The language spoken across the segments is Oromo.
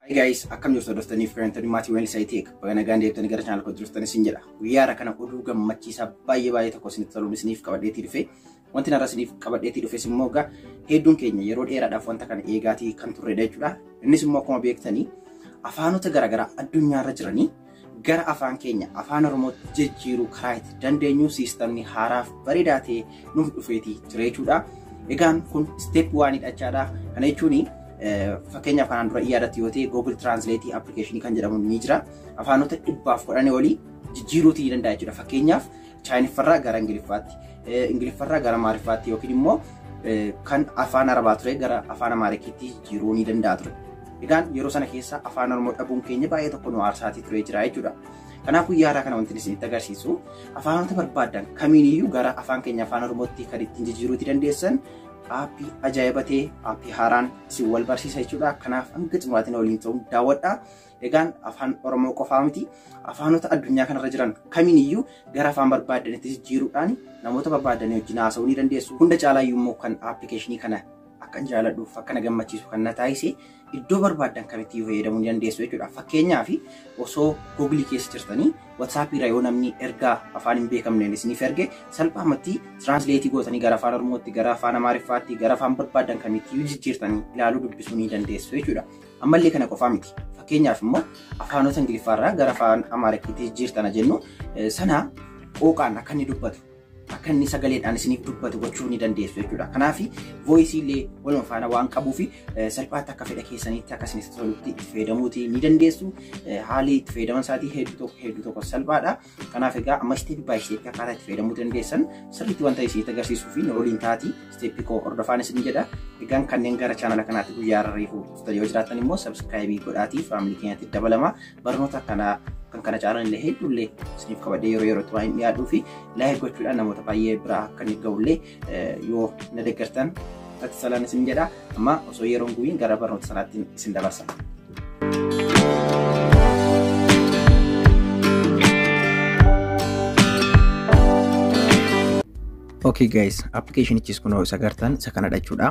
Hi guys, akkam jirtu hordoftanii fi firoomtanii maatii waliin isaa ta'e baga nagaan deebitanii gara chaanal koo jirtan isin jedha. Guyyaa har'a kana oduu gammachiisaa baay'ee baay'ee tokko isinitti toluun isiniif qabadheetii dhufe. Wanti narra isiniif qabadheetii dhufes immoo egaa hedduun keenya yeroo dheeraadhaaf wanta kana eegaatii kan turredha jechuudha. Innis immoo akkuma beektanii afaanota garaagaraa addunyaarra jiranii gara afaan keenya afaan oromootti jijjiiruu karaa itti dandeenyu siistamni haaraaf bareedaa ta'e nuuf dhufeeti jira jechuudha. Egaan kun step waan hidhachaadha. Kana jechuun fakkeenyaaf kanaan dura yaadatti yoo ta'e Google Translate application kan jedhamu ni jira. Afaanota dhibbaaf kudhanii olii jijjiiruuti ni danda'a jechuudha. Fakkeenyaaf Chaayiniffarraa gara Ingiliffaatti, Ingiliffarraa gara Amaariffaatti yookiin immoo kan afaan Arabaa ture gara afaan Amaarikiitti jijjiiruu ni danda'a ture. Egaan yeroo sana keessa afaan Oromoo dhabuun keenya baay'ee tokko nu aarsaatii turee jira jechuudha. Kanaaf guyyaa har'aa kana wanti isinitti agarsiisu afaanota barbaadan kamiiniyyuu gara afaan keenya afaan Oromootti kan ittiin jijjiiruutti dandeessan aappii ajaa'iba ta'e aappii haaraan isin wal barsiisa jechuudha. Kanaaf hanga xumuraatiin waliin ta'uun daawwadhaa. Egaan afaan Oromoo qofaa miti afaanota addunyaa kanarra jiran kamiin iyyuu gara afaan barbaadanitti jijjiiruudhaan namoota barbaadanii wajjin haasa'uu ni dandeessu. Hunda caalaa iyyuu immoo kan appilikeeshinii kana akkan jaaladhuuf akka na gammachiisu kan na taasise iddoo barbaaddan kamitti iyyuu fayyadamuu ni dandeessu jechuudha. Fakkeenyaaf osoo Google keessa jirtanii WhatsApp irra yoo namni ergaa afaan hin beekamneen isiniif erge salphaamatti tiraansileetii gootanii gara afaan Oromootti, gara afaan Amaariffaatti, gara afaan barbaaddan kamitti iyyuu jijjiirtanii ilaaluu dubbisuu ni dandeessu jechuudha. Ammallee kana qofaa miti. Fakkeenyaaf immoo afaanota Ingiliffaa irraa gara afaan Amaarikkiitti jijjiirtana jennu sana qooqaan akka inni dubbatu akka inni sagaleedhaan isiniif dubbatu gochuu ni dandeessu jechuudha. Kanaaf voice illee waluma faana waan qabuu fi salphaatti akka fedha keessaniitti akka isinitti tolutti itti fayyadamuuti ni dandeessu. Haalli itti fayyadaman isaatii hedduu tokko hedduu tokko salphaadha. Kanaaf egaa amma isteepii baay'ee isteepii akkaataa itti fayyadamuu dandeessan sirriitti wanta isinitti agarsiisuu fi waliin taati isteepii koo hordofaan isin jedha. Egaan kanneen gara chaanala kanaatti guyyaa irra reefuu dhuftan yoo jiraatan immoo sabskiraayibii godhaatii faamilii keenyatti dabalama barnoota akkanaa kan kana caalan illee hedduullee isiniif qabadhee yeroo yerootti waan hin dhiyaadhuu fi laayik gochuudhaan namoota baay'ee biraa akka inni ga'ullee yoo na deeggartan ati salaan isin jedha amma osoo yeroon gubiin gara barnoota sanaatti isin dabarsa. Okay guys, appilikeeshinichis kunoo isa gartan isa kana dhachuudha.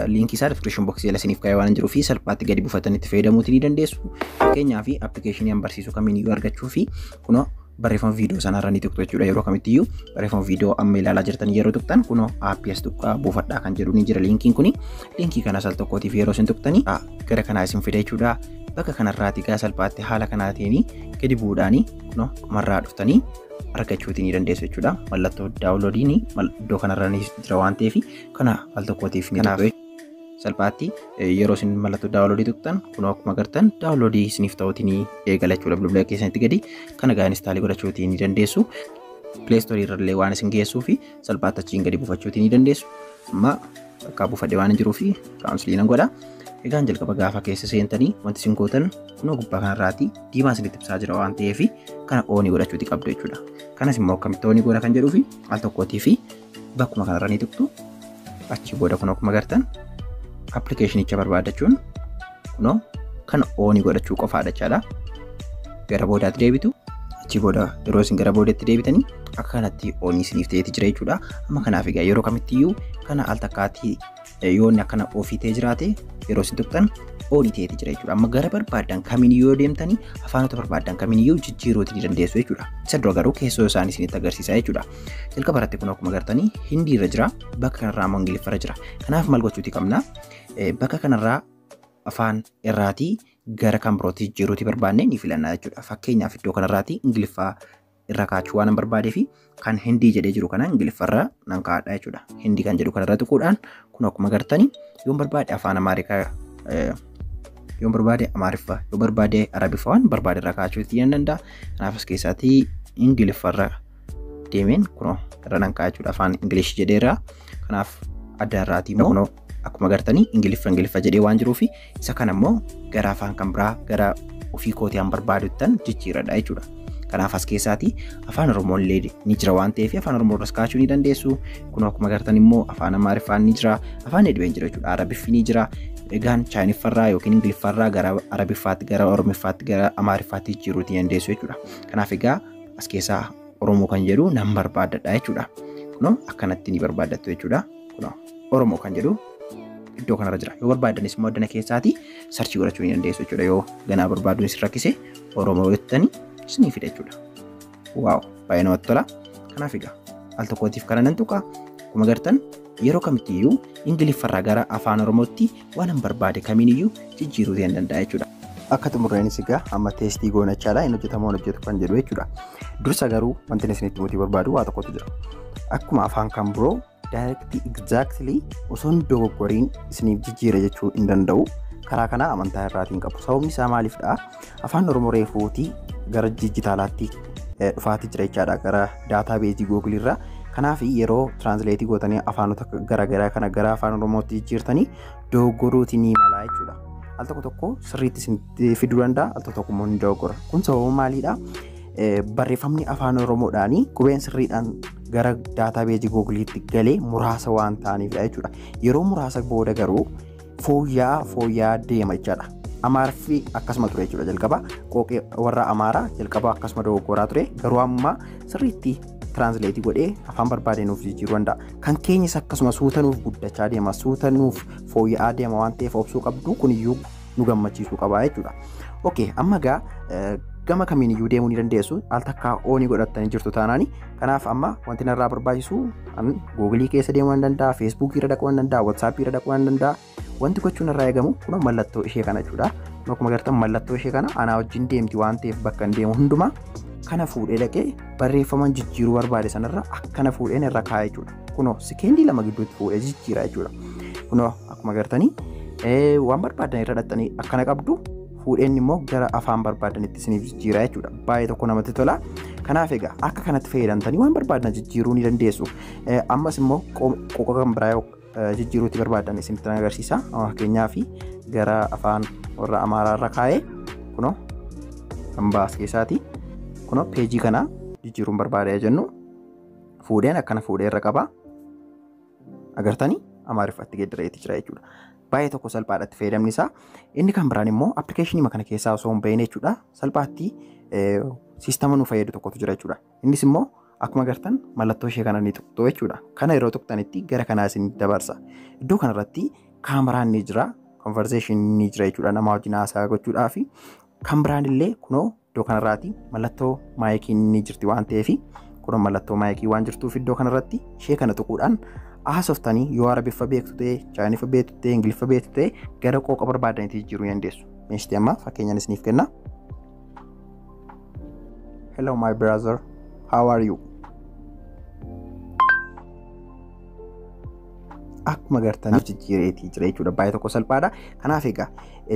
Liinkii isaa description box jala isiniif kaa'ee waan jiruu fi salphaatti gadi buufatanii itti fayyadamuuti ni dandeessu. Fakkeenyaaf appilikeeshinii an barsiisu kamiin iyyuu argachuu fi kunoo barreeffama viidiyoo sana irra ni tuqxu jechuudha yeroo kamitti iyyuu barreeffama viidiyoo amma ilaalaa jirtan yeroo tuqxan kunoo aappii as tuqaa buufadhaa kan jedhu ni jira liinkiin kuni liinkii kana sal tokkootiif yeroo isin tuqxanii gara kanaa isin fida jechuudha bakka kanarraati gaa salphaatti haala kanaatiin gadi bu'uudhaanii kunoo dhumarraa dhuftanii argachuutii ni dandeessu jechuudha mallattoo daawuloodiin iddoo kanarra ni jira waan ta'eef kana al tokkootiif ni tuqxu salphaatti yeroo isin mallattoo daawunloodii tuqxan kun akkuma agartan daawunloodii isiniif ta'uutiin eegalachuudha bilbila keessanitti gadi kana gaa inistaalii godhachuutii ni dandeessu pileestoorii irrallee waan isin geessuu fi salphaatti achiin gadi buufachuutii ni dandeessu amma bakka buufadhe waan jiruu fi kaawunsilii nan godha egaan jalqaba gaafa keessa seentanii wanti isin gootan kunoo gubbaa kanarraati diimaa isinitti ibsaa jira waan ta'eef kana oonii godhachuuti qabdu jechuudha kanas immoo akkamitti oonii godha kan jedhuu fi al tokkootii fi bakkuma kanarra ni tuqtu achi booda kun akkuma gartan appilikeeshinicha barbaadachuun kunoo kan oonii godhachuu qofaadha jechaadha gara boodaatti deebitu achi booda yeroo isin gara boodaatti deebitanii akka kanatti oonii isiniif ta'eeti jira jechuudha amma kanaaf egaa yeroo kamittiyyuu kana al takkaatti yoo inni akkana ofii ta'ee jiraate yeroo isin tuqxan olii ta'eeti jira jechuudha. Amma gara barbaadan kamiin yoo deemtanii afaanota barbaadan kamiin yoo jijjiiruuti ni dandeessu jechuudha. Isa dura garuu keessoo isaanii isinitti agarsiisa jechuudha. Jalqaba irratti kun akkuma agartanii Hindii irra jira bakka kanarraa ammoo Ingiliffa irra jira. Kanaaf maal gochuuti qabna? Bakka kanarraa afaan irraatii gara kan birootti jijjiiruuti barbaanne ni filanna jechuudha. Fakkeenyaaf iddoo kanarraatii Ingiliffaa irra kaachuu waan barbaadee fi kan hindii jedhee jiru kana ingiliffarra nan kaa'adha jechuudha. Hindii kan jedhu kanarra tuquudhaan kun akkuma gartanii yoon barbaade afaan amaarikaa yoon barbaade amaariffa yoo barbaade arabiffa waan barbaade irra kaachuu itti hin danda'a. Kanaaf as keessaatii ingiliffarra deemeen kunoo irra nan kaa'a jechuudha afaan ingilish jedheera. Kanaaf adda irraatii immoo akkuma gartanii ingiliffa ingiliffa jedhee waan jiruufi isa kana immoo gara afaan kan biraa gara ofii kootii an barbaaduttan jijjiiradha jechuudha. Kanaaf as keessaati afaan Oromoo illee ni jira waan ta'eef afaan Oromoo irras kaa'achuu ni dandeessu. Kun akkuma gartan immoo afaan Amaariffaan ni jira, afaan Edween jira jechuudha, Arabiffi ni jira. Egaan Chaayiniffarraa yookiin Ingiliffarraa gara Arabiffaatti, gara Oromiffaatti, gara Amaariffaatti jijjiiruu ni dandeessu jechuudha. Kanaaf egaa as keessaa Oromoo kan jedhu nan barbaadadha jechuudha. Kunoo akkanatti ni barbaaddattu jechuudha. Kunoo Oromoo kan jedhu iddoo kanarra jira. Yoo barbaaddanis immoo addana keessaatii sarchii godhachuu ni dandeessu jechuudha. Yoo ganaa barbaaduun isin rakkise Oromoo jettanii isinii fida jechuudha. Waaw baay'ee namatti tola. Kanaaf egaa al tokkootiif kana nan tuqa. Akkuma gartan yeroo kamittiyyuu Ingiliffarraa gara afaan Oromootti waanan barbaade kamiiniyyuu jijjiiruu ta'een danda'a jechuudha. Akka xumurreenis egaa amma teestii goona jechaadha hin hojjetamu hin hojjetu kan jedhu jechuudha. Dursa garuu wanti isinitti mutii barbaadu waa tokkotu jira. Akkuma afaan kan biroo daayirektii egzaaktilii osoo hin dogoggoriin isiniif jijjiira jechuu hin danda'u. Karaa kanaa amantaa irraatiin qabu. Sababni isaa maaliifdha? Afaan Oromoo reefuuti gara dijitaalaatti dhufaati jira jechaadha gara daataa beezii googilii irraa. Kanaaf yeroo tiraansileetii gootanii afaanota garaagaraa kana gara afaan Oromootti jijjiirtanii dogoggoruuti ni mala jechuudha. Al tokko tokko sirriitti isin fiduu danda'a al tokko tokko immoo ni dogoggora. Kun sababa maaliidha? Barreeffamni afaan Oromoodhaan qubeen sirriidhaan gara daataa beezii googiliitti galee muraasa waan ta'aniifidha jechuudha. Yeroo muraasa booda garuu fooyya'aa fooyya'aa deema jechaadha. Amaariffi akkasuma ture jechuudha jalqaba qooqee warra Amaaraa jalqaba akkasuma dogoggoraa ture garuu amma sirriitti tiraansileetii godhee afaan barbaadee nuuf jijjiiruu danda'a. Kan keenyas akkasuma suuta nuuf guddachaa deema suuta nuuf fooyya'aa deema waan ta'eef obsuu qabdu kuniyyuu nu gammachiisuu qaba jechuudha. Okee amma egaa gama kamiin iyyuu deemuu ni dandeessu al takkaa oonii godhattanii jirtu taanaani Kanaaf amma wanti narraa barbaachisu ani googilii keessa deemuu nan danda'a, feesbuukii irra dhaquu nan danda'a, watsaappii irra dhaquu nan danda'a. Wanti gochuun irraa eegamu kun mallattoo ishee kana jechuudha. Akkuma agartan mallattoo ishee kana anaa wajjin deemti waan ta'eef bakka hin deemu hundumaa kana fuudhee dhaqee barreeffama jijjiiruu barbaade sanarra akkana fuudheen irra kaa'e jechuudha. Kunoo sekeendii lama gidduutti fuudhee jijjiira jechuudha. Kunoo akkuma agartanii waan barbaadan irra dhaqxanii akkana qabdu fuudheen immoo gara afaan barbaadanitti isiniif jijjiiraa jechuudha. Baay'ee tokko namatti tola. Kanaaf egaa akka kanatti fayyadamtanii waan barbaadan jijjiiruu ni dandeessu. Ammas immoo qoqa kan biraa yoo jijjiiruutti barbaadan isinitti agarsiisa. Fakkeenyaaf gara afaan warra Amaaraa irra kaa'ee kunoo kan baas keessaati. Kunoo peejii kana jijjiiruun barbaada jennu fuudheen akkana fuudhee irra qaba. agartanii amaariffatti geeddareeti jira jechuudha. Baay'ee tokko salphaadhatti fayyadamni isaa. Inni kan biraan immoo appilikeeshinii kana keessaa osoo hin bahin jechuudha. Salphaatti siistama nu fayyadu tokkotu jira jechuudha. Innis immoo akkuma agartan mallattoo ishee kana ni tuqxu jechuudha. Kana yeroo tuqxanitti gara kanaa isin dabarsa. Iddoo kanarratti kaameraan ni jira, konvarzeeshin ni jira jechuudha. Nama wajjin haasaa gochuudhaa fi kan biraan illee kunoo Iddoo kanarraati mallattoo maayikiin ni jirti waan ta'eef kun mallattoo maayikii waan jirtuuf iddoo kanarratti ishee kana tuquudhaan haasoftanii yoo arabiffa beektu ta'e chaayiniffa beektu ta'e ingiliffa beektu ta'e gara qooqa barbaadanitti jijjiiruu dandeessu. Meeshti amma fakkeenyaan isiniif kenna. Hello my brother, how are you? akkuma gartaniif jijjiireetii jira jechuudha. Baay'ee tokko salphaadha. Kanaaf egaa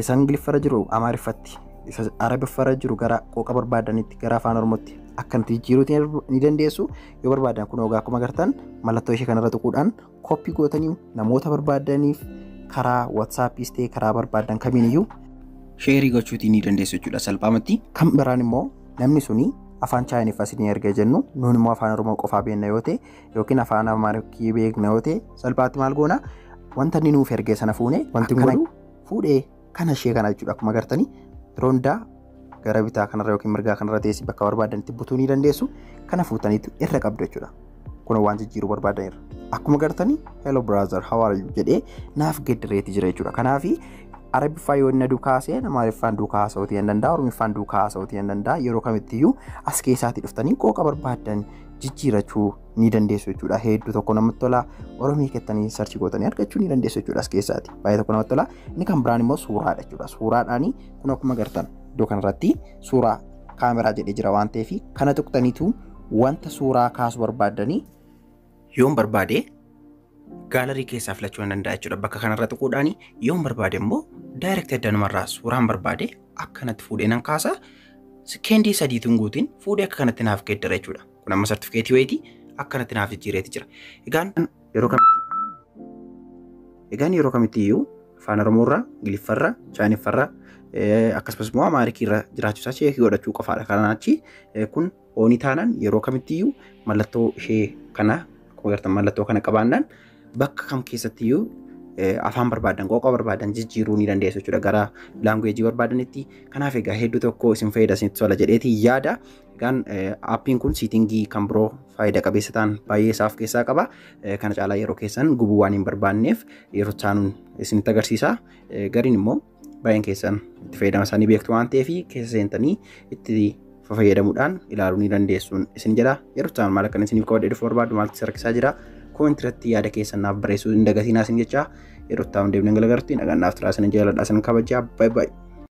isa ingiliffarra jiru amaariffatti isa arabiffarra jiru gara qooqa barbaadanitti gara afaan oromootti akka nuti jijjiiruuti ni dandeessu yoo barbaadan kun ogaa akkuma agartan mallattoo ishee kanarra tuquudhaan koppii gootanii namoota barbaadaniif karaa watsaappis ta'e karaa barbaadan kamiiniyyuu sheerii gochuutii ni dandeessu jechuudha salphaamatti. Kan biraan immoo namni suni afaan chaayiniffaa isin erga jennu nuun immoo afaan oromoo qofaa beekna yoo ta'e yookiin afaan amaariffaa beekna yoo ta'e salphaatti maal goona wanta inni nuuf ergee sana fuune wanti kun fuudhee kana ishee kana jechuudha akkuma agartanii roondaa gara bitaa kanarra yookiin mirgaa kanarra teessii bakka barbaadanitti butuu ni dandeessu kana fuutaniitu irra qabdu jechuudha kun waan jijjiiruu barbaadanirra akkuma agartanii hello brother how are you jedhee naaf geddireeti jira jechuudha kanaafi arabiffaa yoo inni duukaa haasa'e amaariffaan duukaa haasa'uutii hin danda'a oromiffaan duukaa haasa'uutii hin danda'a yeroo kamittiyyuu as keessaatii dhuftanii qooqa barbaadan jijjiirachuu ni dandeessu jechuudha. Hedduu tokko namatti tola. Oromii kettanii sarchi gootanii argachuu ni dandeessu jechuudha as keessaati. Baay'ee tokko namatti tola. Inni kan biraan immoo suuraadha jechuudha. Suuraadhaani kun akkuma gartan iddoo kanarratti suuraa kaameraa jedhee jira waan ta'eef kana tuqxaniitu wanta suuraa kaasuu barbaaddanii yoon barbaade gaalarii keessaa filachuu nan danda'a jechuudha. Bakka kanarra tuquudhaan yoon barbaade immoo daayirekti addanumarraa suuraan barbaade akkanatti fuudhee nan kaasa. Sekeendii sadiituun guutiin fuudhee akka kanatti naaf geeddara jechuudha. Kun amma sartifikeetii wayitii akkanatti naaf jijjiireeti jira. Egaan yeroo kamitti egaan yeroo kamitti iyyuu afaan Oromoorraa, Ingiliffarraa, Chaayiniffarraa akkasumas immoo Amaarikiirraa jiraachuu isaa cheekii godhachuu qofaadha. Kanaan achi kun oonii taanaan yeroo kamitti iyyuu mallattoo ishee kana akkuma agartan mallattoo kana qabaannaan bakka kam keessatti iyyuu afaan barbaadan qooqa barbaadan jijjiiruu ni dandeessu jechuudha gara laanguweejii barbaadanitti kanaaf egaa hedduu tokko isin fayyada isinitti tola jedheeti yaada Egaan appiin kun siitingii kan biroo faayida qabeessa ta'an baay'ee isaa of keessaa qaba. Kana caalaa yeroo keessan gubuu waan hin barbaanneef yeroo taanuun isinitti agarsiisa. Gariin immoo baay'een keessan itti fayyadama isaanii beektu waan ta'eef keessa seentanii itti fayyadamuudhaan ilaaluu ni dandeessuun isin jedha. Yeroo taanuun maal akkan isiniif qabadhee dhufuu barbaadu maaltu isa rakkisaa jira. Koomentii irratti yaada keessan naaf barreessuu hin dagatinaa isin jecha yeroo taanuun deemnee galagarttiin nagaan naaf turaa isin jaaladha isin kabajaa baay'ee baay'ee.